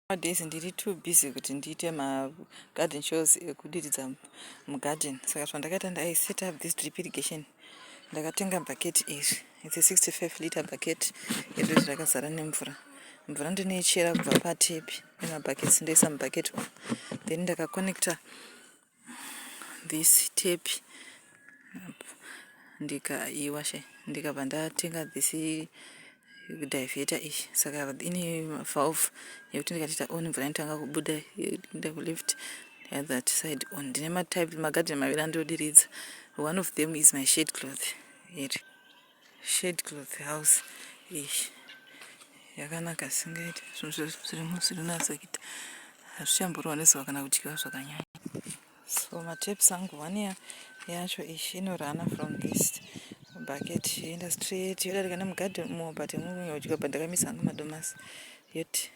Nowadays ndiri too busy kuti ndiite ma garden shows ekudiridza mugarden saka zvandakaita ndai set up this drip irrigation ndakatenga bucket iri it's a 65 liter bucket iri izvi rakazara nemvura mvura ndinoichera kubva patepi emabuckets ndoisa mubucket umu then ndakaconnecta this tape ndikaiwa she ndikabva ndatenga this divheta iyi saka ine valve yekuti ndikatoita on mvura inotanga kubuda enda kuleft that side on ndine matype magadheni maviri andodiridza one of them is my shade cloth here shade cloth house ish yakanaka singaiti zvinhu zvezvo zvirimo zvirinatsa kuita hazvichamborwa nezuva kana kudyiwa zvakanyanya so mataps angu one yacho ish inorana from this bucket yoenda straight yodarika nemugadi mo but mukunya kudyiwa but ndakamisa angu madomasi yoti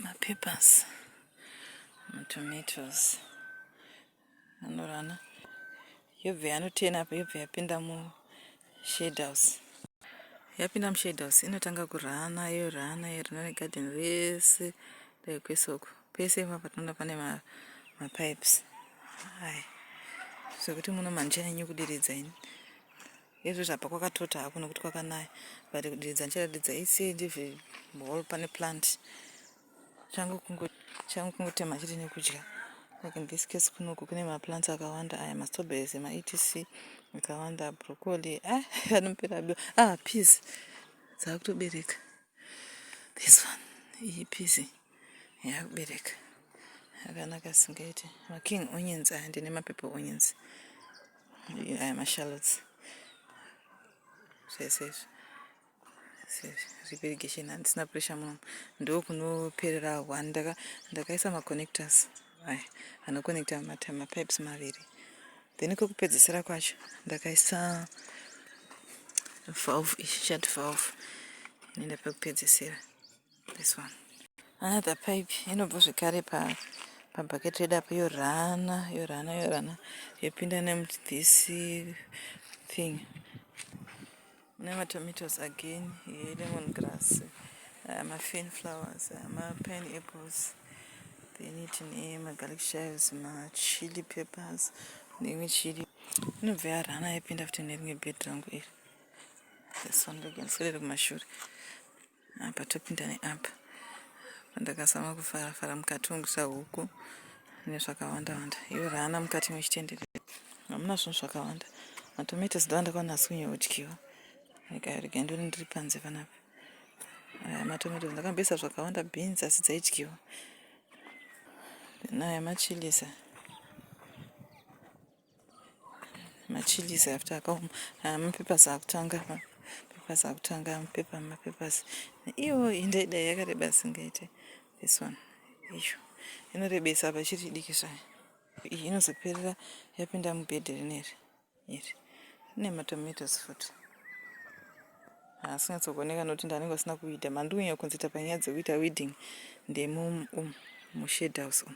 mapapers matomatoes anorana yobve anotena apa yobve yapinda mushade house yapinda mushade house inotanga kurana yorana yorana negarden rese dai kwesoko pese ipapa tinoona pane mapipes aya sokuti muno mandichanyanye kudiridza ini Hezvo zvapa kwakatota hako nokuti kwakanaya but kudiridza ndichadiridza ise ndive whole pane plant changu kungo changu kungotema chete nekudya like in this case kunoku kune maplants akawanda aya mastrawberries ma etc akawanda broccoli ah anopera biwa ah peas dzakutobereka this one iyi pizi yakubereka akanaka singaite making onions aya ndine mapepe onions aya mashallots zvese izvi zvepirigation handisina pressure muno ndokunoperera one ndakaisa maconnectors Aya anoconnecta mapipes maviri then kwekupedzisira kwacho ndakaisa valve shut valve inoenda pekupedzisira this one another pipe inobva zvekare pa pabucket redu apo yorana yorana yorana yopinda nemuthis thing Mune matomatoes again here, lemon grass, uh, mafern flowers, uh, mapineapples, then tine magarlic chives, machili peppers neimwe chili inobva yarana yaipinda futi nerimwe bed rangu iri. This one, look, ndiswedere kumashure. apa topinda neapa pandakazama kufara fara mukati mekusa huku nezvakawanda wanda iyo raana mukati mechitenderero hamuna zvinhu zvakawanda matomato zidava ndakaona asi kunyeodyiwa rega ndoni ndiri panze panapa aya matomato ndakambesa zvakawanda beans asi dzaidyiwa naya machilisa machilizi after akaoma ah, mapepers akutanga mapepers akutanga mapepa mapepers iwo indaidai yakareba singaite this one iyo inorebesa apa chiri idiki zvayo iyi inozoperera yapinda mubhedhi rineri iri rine matomatoes futi asingatsogoneka nokuti ndanenge asina kuita mandiunya kunzita panyaya dzekuita weeding ndemumushed house umu